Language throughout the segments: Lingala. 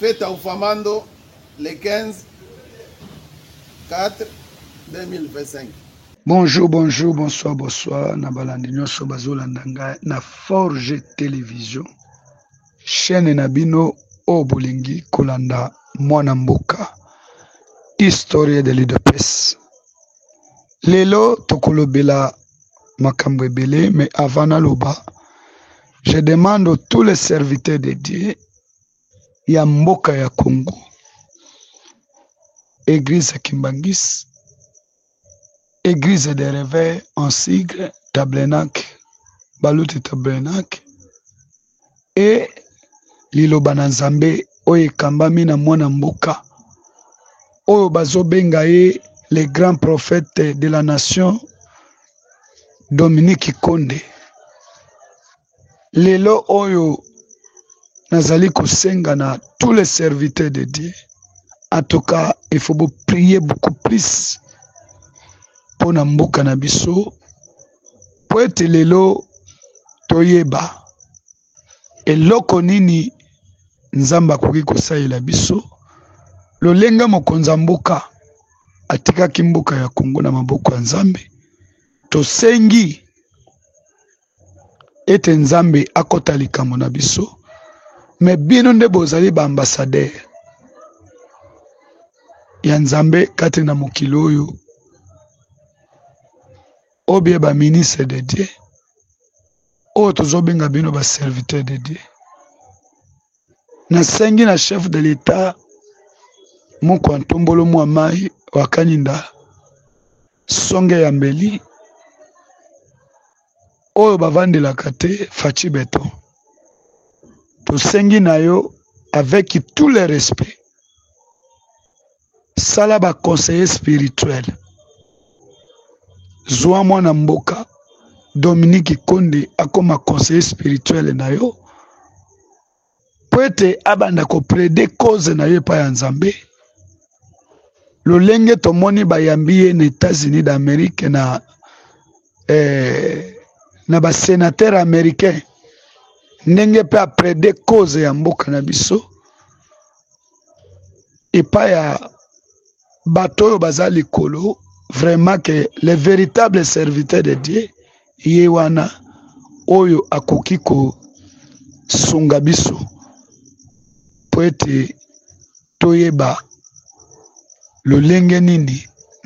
Fete ya Ufamando le 15 4 2025. Bonjour, bonjour, bonsoir, bonsoir na balandi nyonso bazolanda ngai na Forge Television chaîne na bino oyo bolingi kolanda mwana mboka historie de l'udps Lelo tokolobela makambo ebele me avant naloba je demande tous les serviteurs de Dieu ya mboka ya Congo Eglise Kimbangis Eglise de Reveil en sigle Tablenac Baluti Tablenac e liloba na nzambe oyo ekambami na mwana mboka oyo bazobenga ye le grand prophète de la nation dominique konde lelo oyo nazali kosenga na tous les serviteurs de dieu en tout cas il faut boprier beaucoup plus mpo na mboka na biso mpo ete lelo toyeba eloko nini Nzambe akoki kosalela biso lolenge mokonzi ya mboka atikaki mboka ya Kongo na maboko ya Nzambe tosengi ete Nzambe akota likambo na biso me bino nde bozali ba ambassadeur ya Nzambe kati na mokili oyo Ou bien ba ministre de Dieu oyo tozo benga bino ba serviteur de Dieu. Nasengi na chef de l'etat mokwa ntombolo mwa mai wa kaninda songe ya mbeli oyo bavandelaka te faci beton tosengi na yo avec tout le respect sala ba conseiller spirituel zwa mwana mboka dominique konde akoma conseiller spirituel na yo mpo ete abanda koplede cause na yo epai ya nzambe lolenge tomoni bayambi ye na états-unis d'amérique na eh, na basenatere américain ndenge mpe aprede cause ya mboka na biso epai ya bato oyo baza likolo vraiment ke le véritable serviteur de dieu ye wana oyo akoki kosunga biso mpo ete toyeba lolenge nini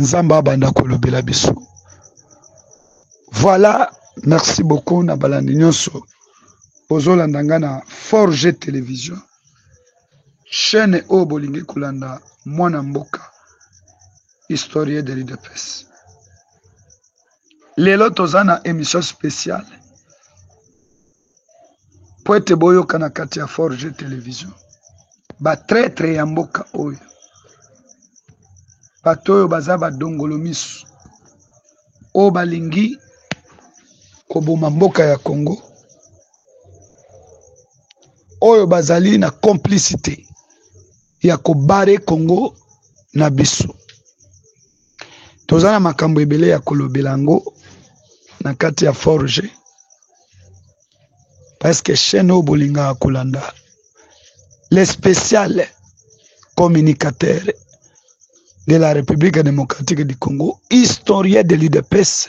nzambe abanda kolobela biso voilà merci beaucoup na balandi nyonso bozolanda ngai na forge télévision chaine oyo bolingi kolanda mwana mboka historie de l'udps lelo toza na émission spéciale po ete boyoka na kati ya forge television batraitre ya mboka oyo bato oyo baza badongolo miso oyo balingi koboma mboka ya congo oyo bazali na complicite ya kobare congo na biso toza na makambo ebele ya kolobela yango na kati ya forge parceke chaine oyo bolingaka kolanda le spécial communicateur de la république démocratique du congo historien de l'udps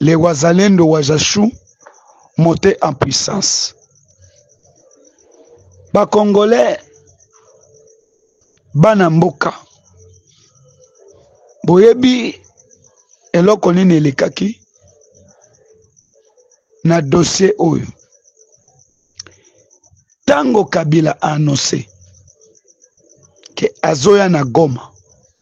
les wazalendo wazachou monte en puissance bacongolais bana mboka boyebi eloko nini elekaki na dossier oyo ntango kabila annonce ke azoya na goma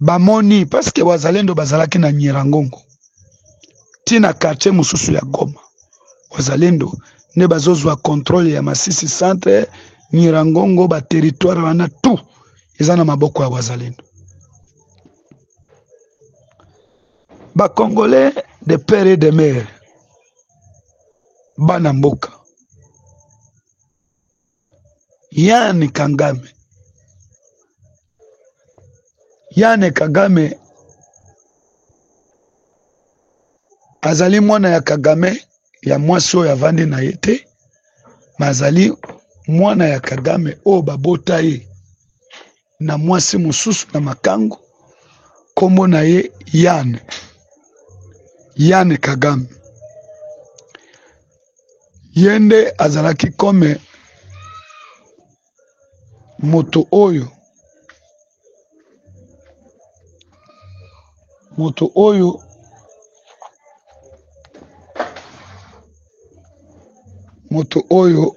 bamoni parce que wazalendo bazalaki na Nyiragongo ti na quartier mosusu ya Goma wazalendo nde bazozwa controle ya Masisi centre Nyiragongo ba territoire wana tout eza na maboko ya wazalendo ba congolais de père et de mère bana mboka yane kangame yane kagame azali mwana ya kagame ya mwasi oyo avandi na ye te me azali mwana ya kagame oyo babota ye na mwasi mosusu na makango nkombo na ye Yane Yane Kagame ye nde azalaki kome moto oyo moto oyo moto oyo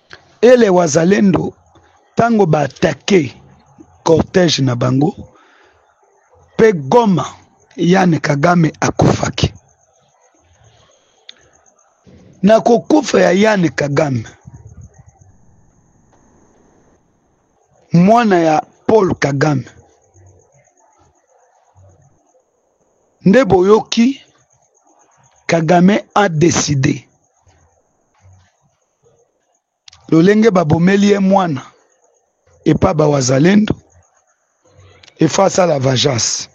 Et les Wazalendo, tango ba attaquer cortège na bango, pe Goma, Yann Kagame akufaki. Na kokufa ya Yann Kagame, mwana ya Paul Kagame, nde boyoki Kagame a decider lolenge babomeli ye mwana epa bawazalendo efa asala vagence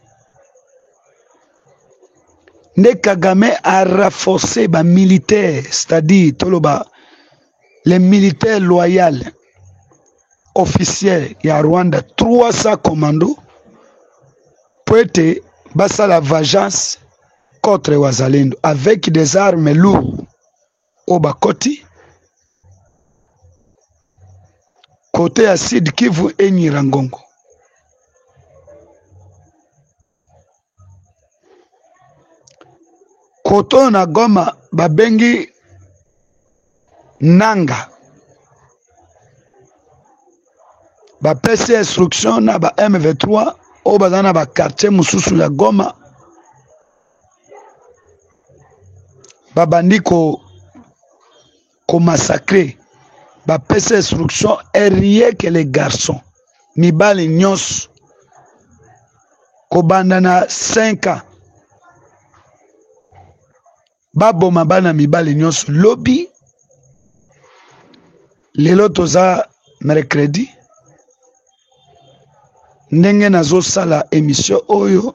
nde kagame a renforce bamilitaire c'est-à-dire toloba le militaire loyal officiel ya rwanda 300 commando mpo ete basala vagence contre wazalendo avec des armes lourdes oyo bakoti kote ya sud kivu enyira ngongo kote oyo na goma babengi nanga bapesi instruction na ba m23 oyo baza na bakartier mosusu ya goma babandi ko ko massacrer bapesa instruction rien que les garçons mibali nyonso kobanda na 5 ans baboma bana mibali nyonso lobi lelo toza mercredi ndenge nazosala emission oyo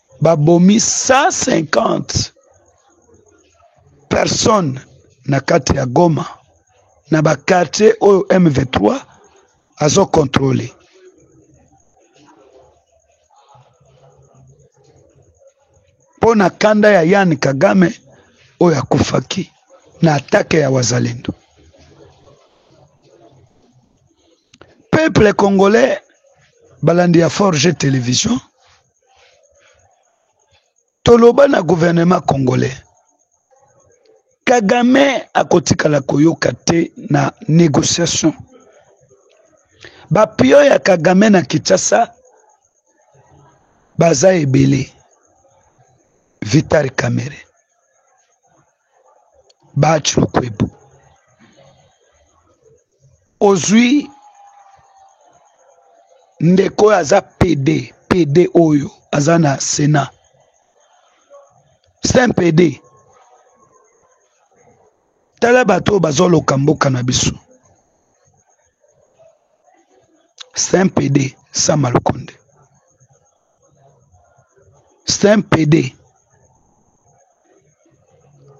babomi 150 personnes na kati ya Goma na ba quartier oyo M23 azo controle. Mpo na kanda ya Yann Kagame oyo akufaki na atake ya wazalendo. Peuple congolais balandi ya Forge Television toloba na gouvernement congolais kagame akotikala koyoka te na négociation bapio ya kagame na kinshasa baza ebele vitari camere baci lukwebu ozwi ndeko oyo aza pede pede oyo aza na senat c'est un pede tala bato oyo bazoloka mboka na biso c'est un pede sama lukonde c'est un pede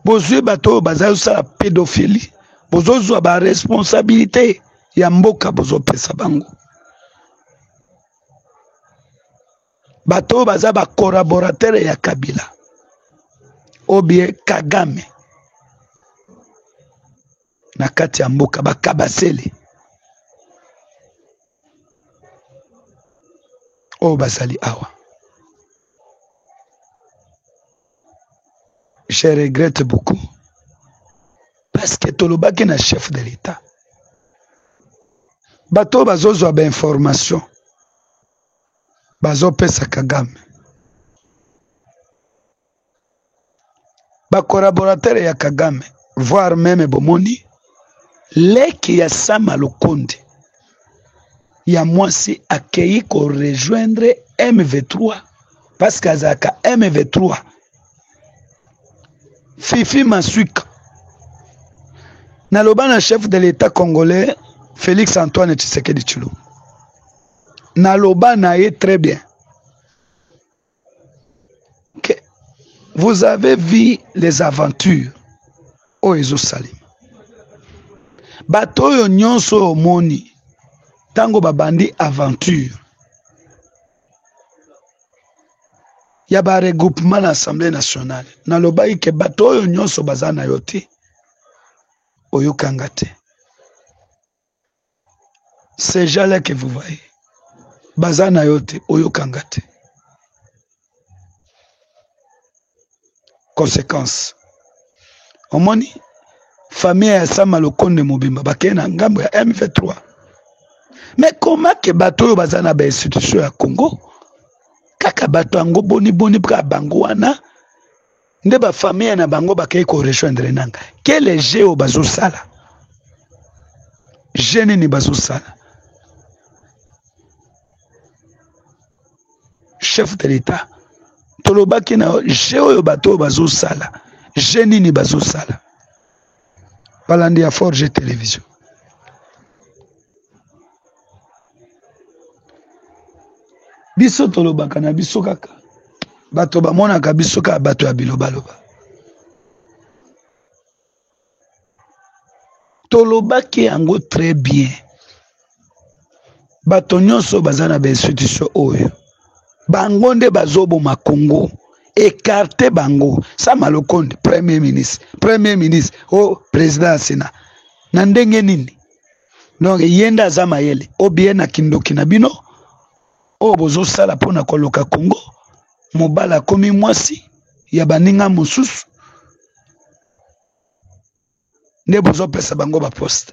bozwi bato oyo bazali kosala pedophilie bozozwa ba responsabilité ya mboka bozopesa bango bato oyo baza ba collaborateur ya kabila obie kagame na kati ya mboka bakabasele oyo bazali awa je regrette beaucoup parce que tolobaki na chef de l'etat bato oyo bazozwa bainformation bazopesa kagame ba collaborateur ya kagame voir meme bomoni leki ya sama lukundi ya mwasi akei ko rejoindre mv3 parce que azalaka mv3 fifi masuika naloba na chef de l'etat congolais felix antoine tshisekedi tshilombo naloba na ye très bien que vous avez vu les aventures oyo ezosalema bato oyo nyonso oyo omoni ntango babandi aventure ya baregroupement na assemblée nationale nalobaki ke bato oyo nyonso baza na yo te oyokanga te ces gens là que vous voyez baza na yo te oyokanga te conséquence omoni famille ya sama lokonde mobimba bakei na ngambo ya mv3 mais koma ke bato oyo baza na bainstitution ya congo kaka bato yango boniboni kaka bango wana nde ba famille na bango bakei ko rejoindre nanga kele jeu oyo bazosala je nini bazosala chef de l'etat tolobaki na yo je oyo bato oyo bazosala je nini bazosala balandi ya forge television biso tolobaka na biso kaka bato bamonaka biso kaka bato ya bilobaloba tolobaki yango très bien bato nyonso baza na bainstitution oyo bango nde bazoboma congo ekarte bango sama lokonde premier ministre premier ministre o oh, président ya sena na ndenge nini donc ye nde aza mayele obie na kindoki na bino oyo bozosala mpona koloka congo mobala akomi mwasi ya baninga mosusu nde bozopesa bango baposte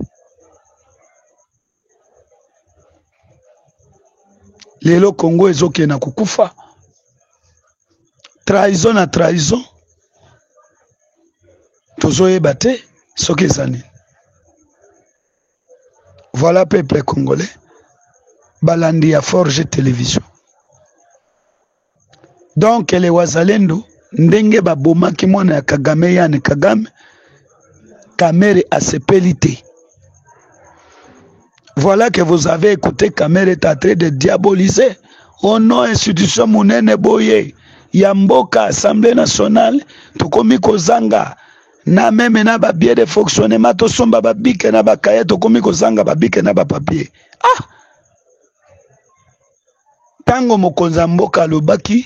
lelo congo ezokende na kokufa trahison na trahison tozoyeba te soki eza nini voilà peuple congolais balandi ya forge television Donc les wazalendo ndenge ba bomaki mwana ya Kagame Yann Kagame Kamere asepeli te. Voilà que vous avez écouté Kamere est en train de diaboliser au nom institution munene boye ya mboka Assemblée nationale tokomi kozanga na meme na ba biais de fonctionnement tosomba ba bike na ba kaye tokomi kozanga ba bike na ba papier ah ntango mokonzi ya mboka alobaki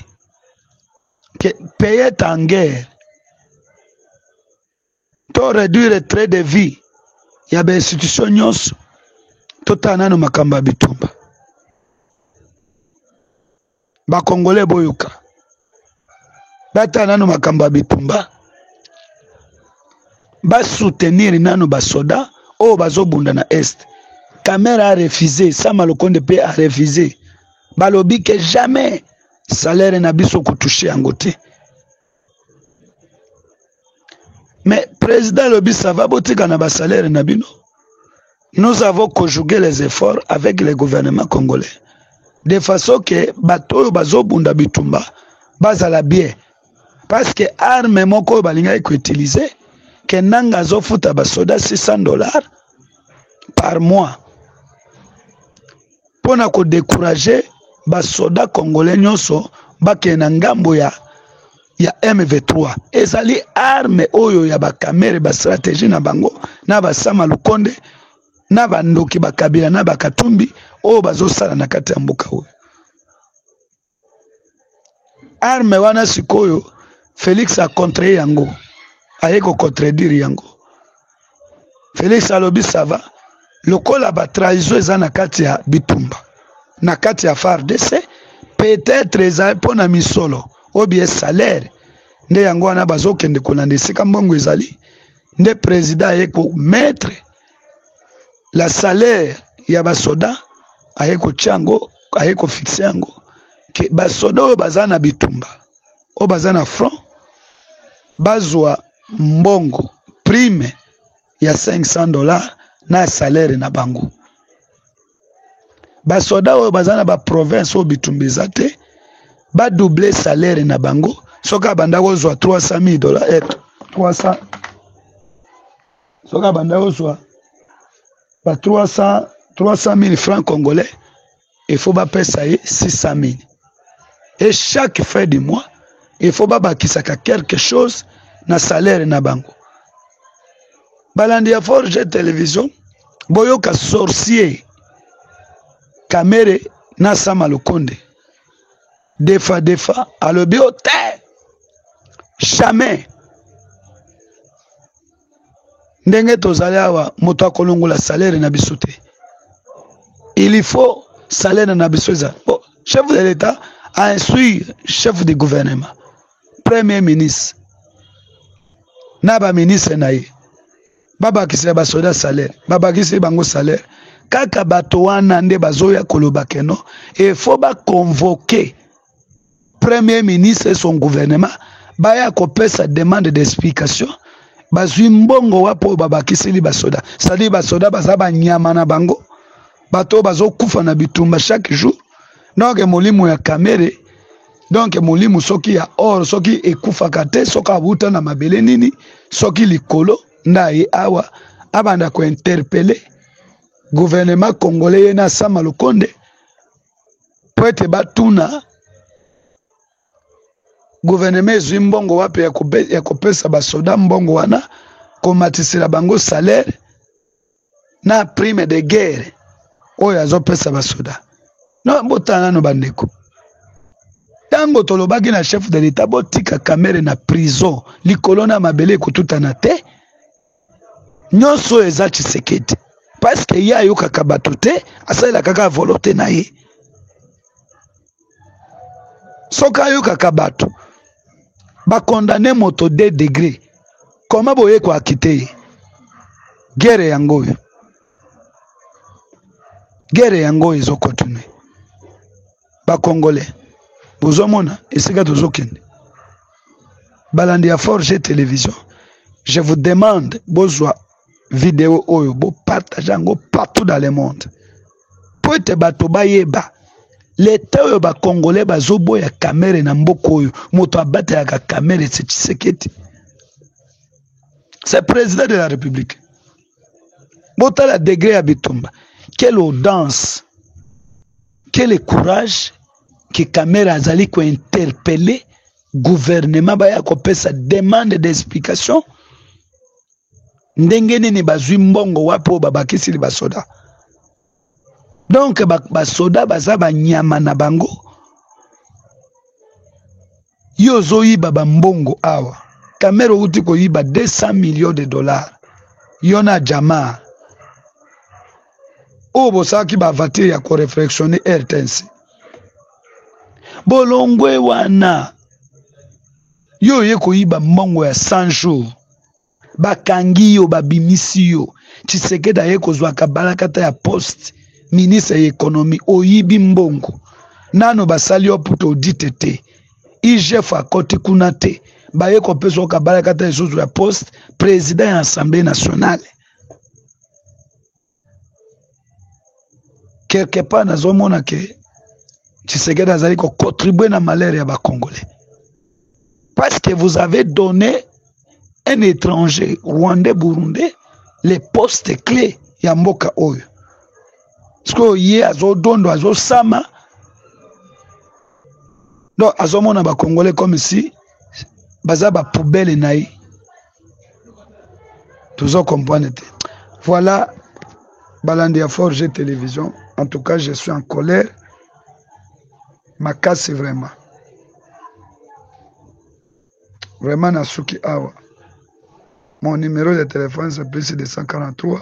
que payet en guerre to réduire trait de vie ya bainstitution nyonso totala nano makambo ya bitumba bakongole boyoka batala nano makambo ya bitumba basoutenir nano basoda oyo bazobunda na est kamere arefuse sama lokonde mpe arefuse balobi ke jamais salaire na biso kotouche yango te mais president alobi sava botika na basalere na bino nous avons conjugué les efforts avec le gouvernement congolais de façon ke bato oyo bazobunda bitumba bazala bien parce que arme moko oyo balingaki koutilize ke nanga azofuta basoda 600 dollars par mois mpo na ko decourager ba soldats congolais nyonso bakende na ngambo ya ya MV3 ezali arme oyo ya bakamere ba strategie na bango na basama lukonde na bandoki bakabila na bakatumbi oyo bazosala na kati ya mboka oyo arme wana sikoyo felix acontre yango aye kocontredire yango felix alobi sava lokola batrahison eza na kati ya bitumba na kati ya fardc peut-être eza mpo na misolo oyo bie salaire nde yango wana bazokende kolanda esika mbongo ezali nde president aye kometre la salaire ya basoda aye kotya yango aye kofixe yango ke basoda oyo baza na bitumba oyo baza na front bazwa mbongo prime ya 500 dollar na salaire na bango basoda oyo baza na baprovince oyo bitumba eza te badouble salaire na bango soki abanda kozwa 300 000 dollar 300 soki abanda kozwa ba 300 300000 francs congolais il faut bapesa ye 600000 et chaque fin du mois il faut babakisaka quelque chose na salaire na bango balandi ya forge television boyoka sorcier kamere na sama lokonde defa defa alobi o te jamais ndenge tozali awa moto akolongola salaire na biso te il faut salaire na biso eza bon, chef de l'état a instruire chef de gouvernement premier ministre na baministre na ye babakisela basoda salaire babakiseli bango salaire kaka bato wana nde bazoya koloba keno efo baconvoke premier ministre et son gouvernement baya kopesa demande d'explication bazwi mbongo wapi oyo babakiseli basoda cestadire basoda baza banyama na bango bato oyo bazokufa na bitumba chaque jour donc molimo ya kamere donc molimo soki ya or soki ekufaka te soki awuta na mabele nini soki likolo ndaye awa abanda kointerpele gouvernement congolais ye na sama lokonde mpo ete batuna gouvernement ezwi mbongo wapi ya kopesa basoda mbongo wana komatisela bango salaire na prime de guerre oyo azopesa basoda no botala nano bandeko ntango tolobaki na chef de l'etat botika kamere na prison likolo na mabele ekotutana te nyonso oyo eza tshisekedi parceke ye ayokaka bato te asalelaka kaka volote na ye soki ayokaka bato bakondane moto de degre koma boye koakite ye gere yango oyo gere yango oyo ezokontinue bakongole bozomona esika tozokende balandi ya forge television je vous demande bozwa video oyo bo partage yango partout dans le monde mpo ete bato bayeba leta oyo bakongole bazoboya kamere na mboka oyo moto abatelaka kamere se tshisekedi se président de la république botala degre ya bitumba quelle audience quel courage que kamere azali kointerpele gouvernement baya kopesa demande d'explication ndenge nini bazwi mbongo wapi oyo babakisili basoda donk basoda baza banyama na bango ye ozoyiba bambongo awa kamere outi koyiba 200 million de dollar yo na jama oyo bosalaki bavatire ya koreflexione rtnc bolongwe wana Yo oye koyiba mbongo ya 100 jours, bakangi yo, babimisi yo. Tshisekedi aye kozwa kabalakata ya poste ministre ya economie, oyibi mbongo. Nano basali yo puto audite te, IGF akoti kuna te, baye kopesa yo kabalakata lisusu ya poste president ya Assemblee nationale. quelque part nazomona ke Tshisekedi azali ko contribuer na malheur ya ba Congolais parce que vous avez donné un étranger rwandais burundais les postes clés ya mboka oyo sikoyo ye azodondo azosama donc azomona bakongole comme si baza bapoubele na ye tozo comprendre te voilà balandi ya forge télévision en tout cas je suis en colère makasi vraiment vraiment nasuki awa mon numéro de téléphone c'est plus 243